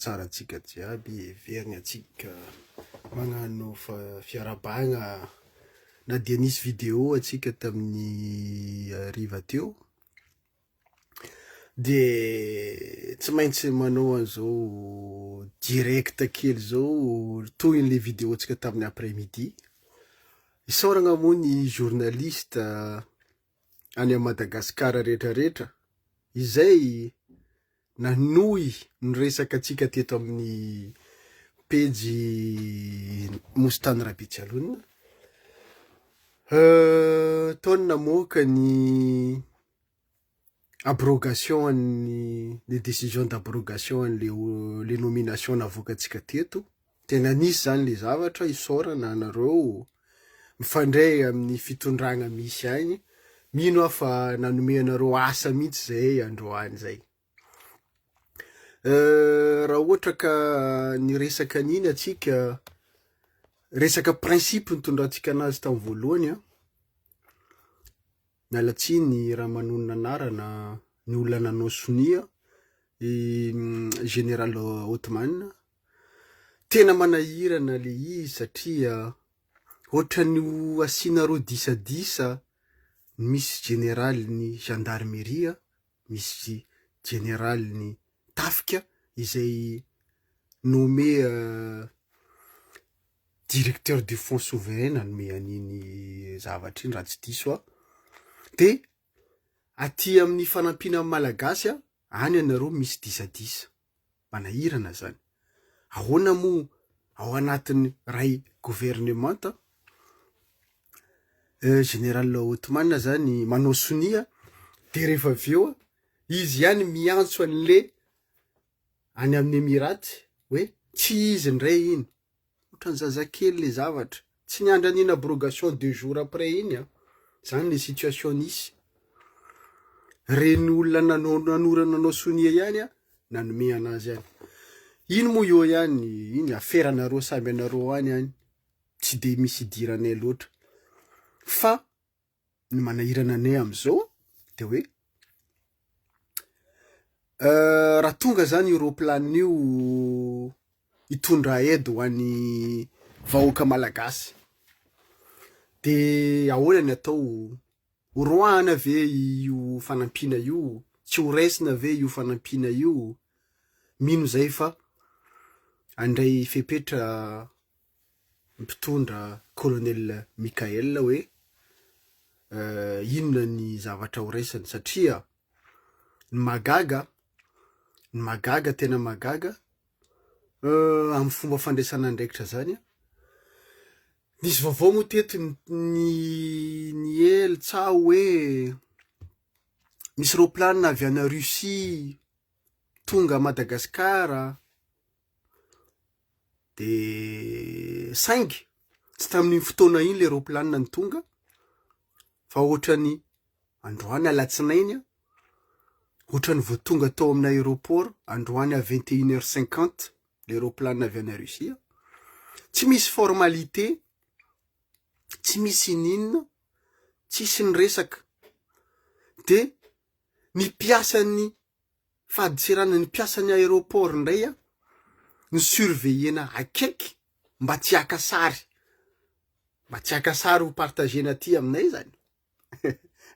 tsara antsika jiaby heveriny antsika magnano fiarabagna na dia nisy vidéo antsika tamin'ny hariva teo de tsy maintsy manao an'izao direct kely izao tohin'le vidéo antsika tamin'ny après midi isaoragna moa ny journaliste any amin'i Madagasikara rehetra rehetra izay nanohy ny resaka antsika teto amin'ny pejy Nosy Tany Rabetsialona. Nataony namoaka ny abrogation an'ny, ny décision d'abrogation an'ilay le nomination navoakantsika teto Dia nanisy izany ilay zavatra isaorana anareo mifandray amin'ny fitondrana misy any, mino aho fa nanome anareo asa mihitsy izay androany izay. Euh, raha ohatra ka niresaka an'iny atsika, resaka principe nitondrantsika anazy tamin'ny voalohany an, miala tsiny raha manonona anarana ny olona nanao sonia i mm, général Othman, Tena manahirana le izy satria ohatran'ny ho asianareo disadisa ny misy jeneralin'ny gendarmerie, misy jeneralin'ny tafika izay nommé directeur du fonds souverain nanome an'iny zavatra iny raha tsy diso aho, de aty amin'ny fanampiana ny malagasy any ianareo misy disadisa. manahirana zany. Ahoana moa ao anatin'ny ray governemanta Général Otmane zany manao sonia de rehefa avy eo izy ihany miantso an'le any amin'ny Emirates hoe tsy izy indray iny. Otran zazakely le zavatra. Tsy niandry an'iny abrogation deux jours après iny an! Zany le situation nisy. Reny olona nanorana anao sonia ihany an nanome anazy any. Iny moa eo ihany, iny afera anareo samby anareo any any. Tsy de misy idiranay loatra. Fa. ny manahirana anay amin'izao dia hoe raha tonga zany io roplanina io hitondra aide ho an'ny vahoaka malagasy de ahoana ny atao horoahana ve io fanampiana io tsy ho raisina ve io fanampiana io mino zay fa andray fepetra mpitondra Colonel Michael hoe inona ny zavatra ho raisiny satria ny mahagaga ny mahagaga tena mahagaga amin'ny fomba fandraisana andraikitra zany a nisy vaovao moa teto ny ny ely tsa hoe misy roplanina avy any Russie tonga Madagasikara de saingy tsy tamin'iny fotoana iny le ropilanina ny tonga fa ohatrany androany alatsinainy a ohatrany vao tonga tao amin'ny aéroport androany à 21 heures 50 le ropilanina avy any Russie tsy misy formalité tsy misy ininina tsisy ny resaka de ny mpiasan'ny fadintseranan'ny mpiasan'ny aéroport indray an, no surveiller-na akaiky mba tsy haka sary, mba tsy haka sary ho partager-na aty aminay zany,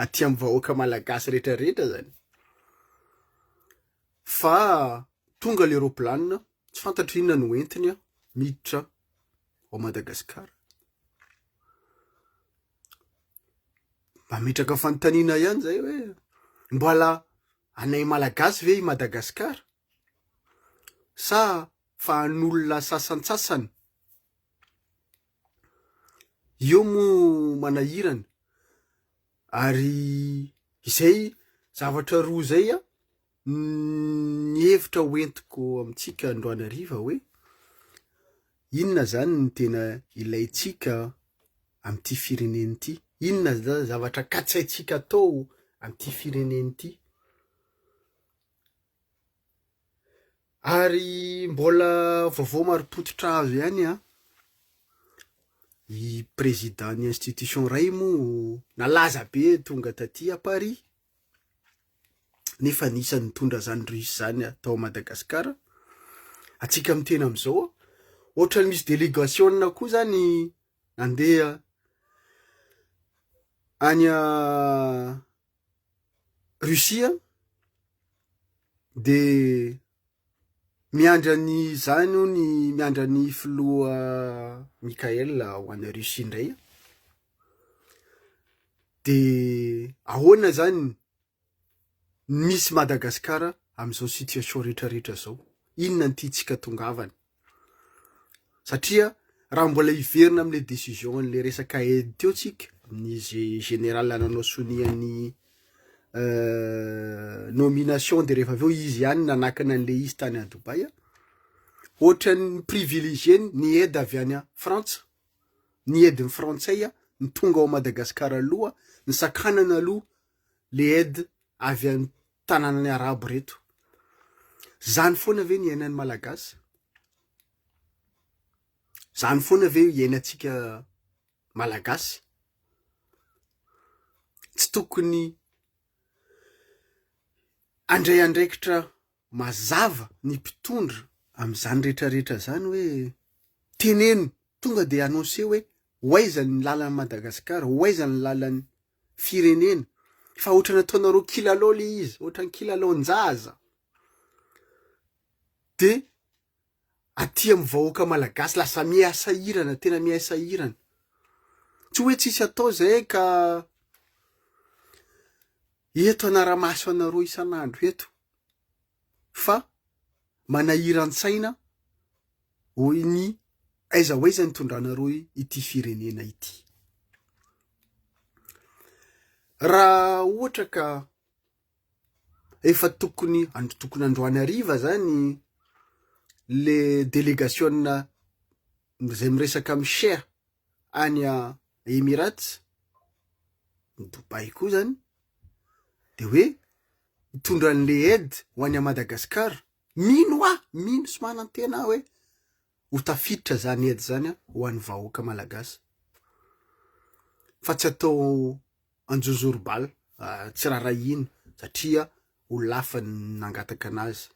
aty amin'ny vahoaka malagasy rehetra rehetra zany, fa tonga le roplanina tsy fantatro inona no entiny an, miditra ao Madagascar. Mametraka fanontaniana ihany zay hoe, mbola Anay Malagasy ve i Madagasikara? Sa fa an'olona sasantsasany? Io moa manahirana ary izay zavatra roa izay ny hevitra hoentiko amintsika androany hariva hoe, Inona izany no tena ilaintsika amin'ity firenena ity? Inona izany zavatra katsaintsika atao amin'ity firenena ity? Ary mbola vaovao marim-pototra azo ihany an! I président-n'ny institution iray moa nalaza be tonga taty à Paris, nefa anisan'ny nitondra izany russe izany tao Madagascar, antsika amin'ny tena amin'izao, ohatrany misy délégation koa izany nandeha any Russie dia Miandry an'izany hono i, miandry an'i filoha Mickaël ho any Russie indray an! De ahoana zany ny misy Madagascar amin'izao situation retraretra zao? Inona ny tiantsika tongavana? satria raha mbola hiverina amin'ilay décision an'ilay resaka aide teo tsika amin'izay général nanao sonia ny euh, nomination de rehefa avy eo izy ihany nanakana an'ilay izy tany à Dubaï ohatran'ny privilégié ny aide avy any Frantsa ny aide ny frantsay ny tonga ao Madagasikara aloha ny sakanana aloha le aide avy any tananan'ny arabo reto. Zany foana ve ny iainan'ny malagasy? Zany foana ve iainantsika malagasy? Tsy tokony andray andraikitra mazava ny mpitondra amin'izany rehetra rehetra zany hoe teneno tonga de annoncé hoe ho aiza ny lalan'i Madagasikara, ho aiza ny lalan'ny firenena fa otrany ataonareo kilalao le izy otrany kilalaon-jaza de aty amin'ny vahoaka malagasy lasa miha sahirana tena miha sahirana tsy hoe tsisy atao zay ka eto anaramaso anareo isan'andro eto fa manahiran-tsaina Hoy ny Aiza ho aiza ny tondranareo ity firenena ity? Raha ohatra ka efa tokony andro tokony androany hariva zany le delegasiona izay miresaka amin'ny shea any Emirats, ny Dubai koa zany, de hoe hitondra an'le aide ho any Madagascar Mino aho, mino sy manantena aho hoe ho tafiditra izany aide izany ho an'ny vahoaka malagasy fa tsy atao anjozorobala, tsy rarahina satria ho lafany ny nangataka anazy.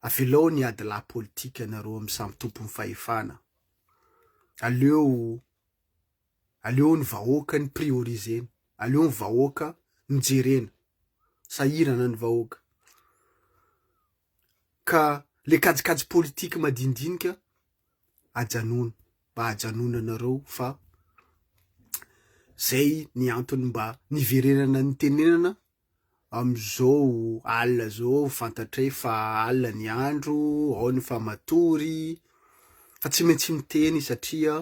Avelao ny adilahy politika anareo amin'ny samy tompon'ny fahefana. Aleo Aleo ny vahoaka ny priorisena, aleo ny vahoaka no jerena, sahirana ny vahoaka, ka le kajikajy politique madinidinika ajanona, mba ajanonanareo fa zay ny antony mba niverenana nitenenana amizao alina zao fantatray fa alina ny andro, ao ny efa matory, fa tsy maintsy miteny satria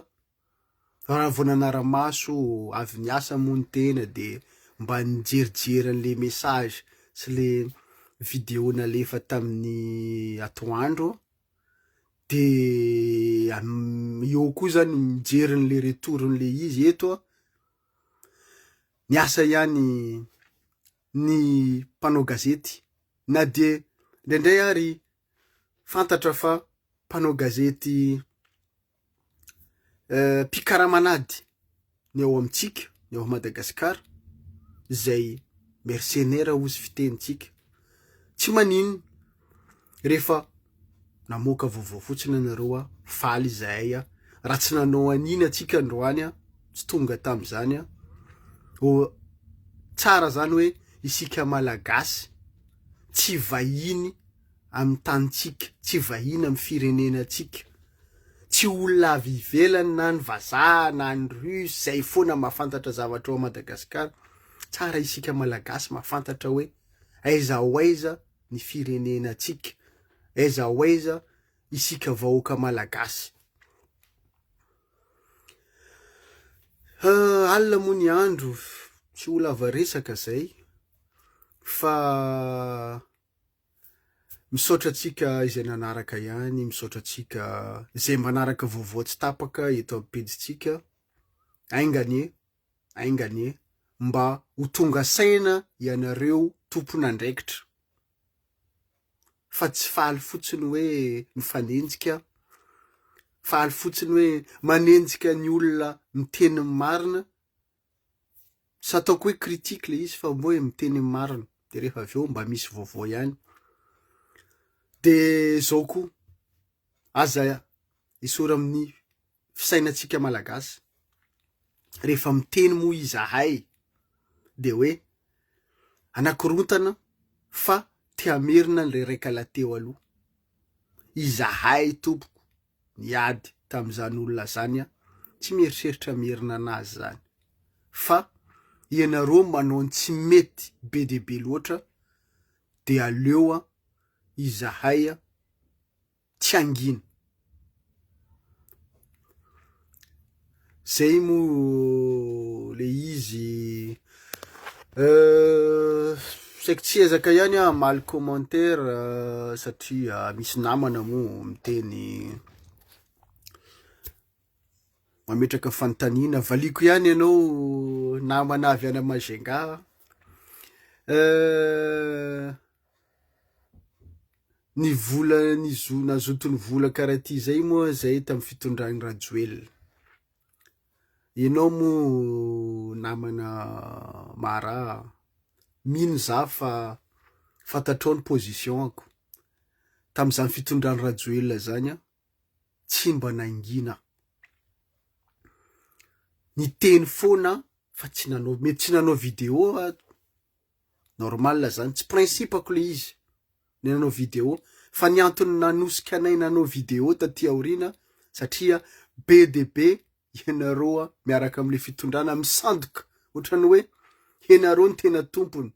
Raha vao nanara-maso avy niasa moa ny tena dia mba nijerijery an'ilay message sy ilay video nalefa tamin'ny atoandro dia eo koa zany mijery an'ilay retourn'ilay izy eto niasa ihany ny mpanao gazety na dia indraindray ary fantatra fa mpanao gazety mpikaraman'ady ny ao amintsika ny ao Madagasikara izay mercenera hoy ny fitenintsika, tsy maninona rehefa namoaka vaovao fotsiny ianareo aho faly izahay aho, raha tsy nanao an'iny antsika androany aho tsy tonga tamin'izany aho, tsara izany hoe isika Malagasy tsy vahiny. amin'ny tanintsika, tsy vahiny amin'ny firenenantsika, tsy olona avy ivelany na ny vazaha na ny russe izay foana mahafantatra zavatra ao Madagascar, tsara isika malagasy mahafantatra hoe aiza ho aiza ny firenenantsika, aiza ho aiza isika vahoaka malagasy. Euh, alina moa ny andro, tsy ho lava resaka izay, fa Misaotra antsika izay nanaraka ihany, misaotra antsika izay manaraka vaovao tsy tapaka eto amin'ny pejintsika. Ainga anie, ainga anie, mba ho tonga saina ianareo tompon'andraikitra fa tsy faly fotsiny hoe mifanenjika, faly fotsiny hoe manenjika ny olona miteny ny marina Tsy ataoko hoe critique ilay izy fa hoe miteny ny marina dia rehefa avy eo mba misy vaovao ihany. Dia izao koa, aza esory amin'ny fisainantsika malagasy. Rehefa miteny moa izahay dia hoe anakorontana fa te hamerina ilay raika lahy teo aloha. Izahay tompoko niady tamin'izany olona zany an, tsy mieritreritra mierina anazy zany fa ianareo manao ny tsy mety be dia be loatra dia aleo an izahay an tsy hangina. Zay moa le izy euh, saiko tsy ezaka ihany aho hamaly commentaire euh, satria misy namana moa miteny mametraka fanontaniana, valiako ihany ianao namana avy any Majunga euh, Ny vola nizo nazoton'ny vola karaha ty zay moa zay tamin'ny fitondran'i Rajoelina. Ianao moa namana Maraha, mino za fa fantatrao ny position-ko. Tamin'izany fitondran'i Rajoelina zany aho tsy mba nangina. Niteny foana aho fa tsy nanao mety tsy nanao vidéo aho. Normal zany, tsy principe-ko le izy le nanao video fa ny antony nanosika anay nanao video taty aoriana satria be dia be ianareo miaraka amle fitondrana misandoka otrany hoe ianareo no tena tompony,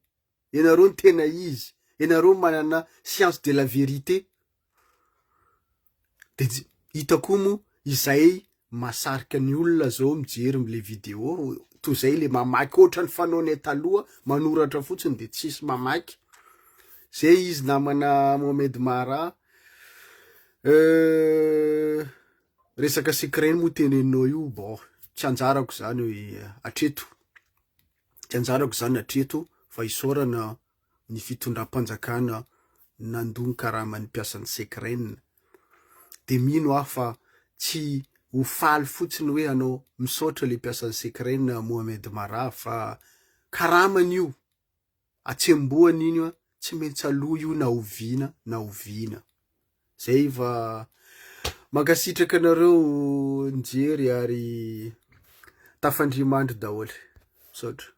ianareo no tena izy, ianareo manana science de la vérité Dia tsy hita koa moa izay mahasarika ny olona zao mijery le vidéo toy zay le mamaky ohatrany fanaonay taloha manoratra fotsiny de tsisy mamaky zay izy namana Mohamed Mara euh, resaka secret moa teneninao io bon tsy anjarako zany atreto tsy anjarako zany atreto fa isaorana ny fitondram-panjakana nandoa ny karaman'ny mpiasan'ny Secren dia mino aho fa tsy ho faly fotsiny hoe hanao misaotra ilay mpiasan'ny Secren Mohamed Marah fa karamany io, atsembohany iny an, tsy maintsy aloa io na oviana na oviana. Zay fa mankasitraka anareo nijery ary tafandria mandry daholo. Misaotra.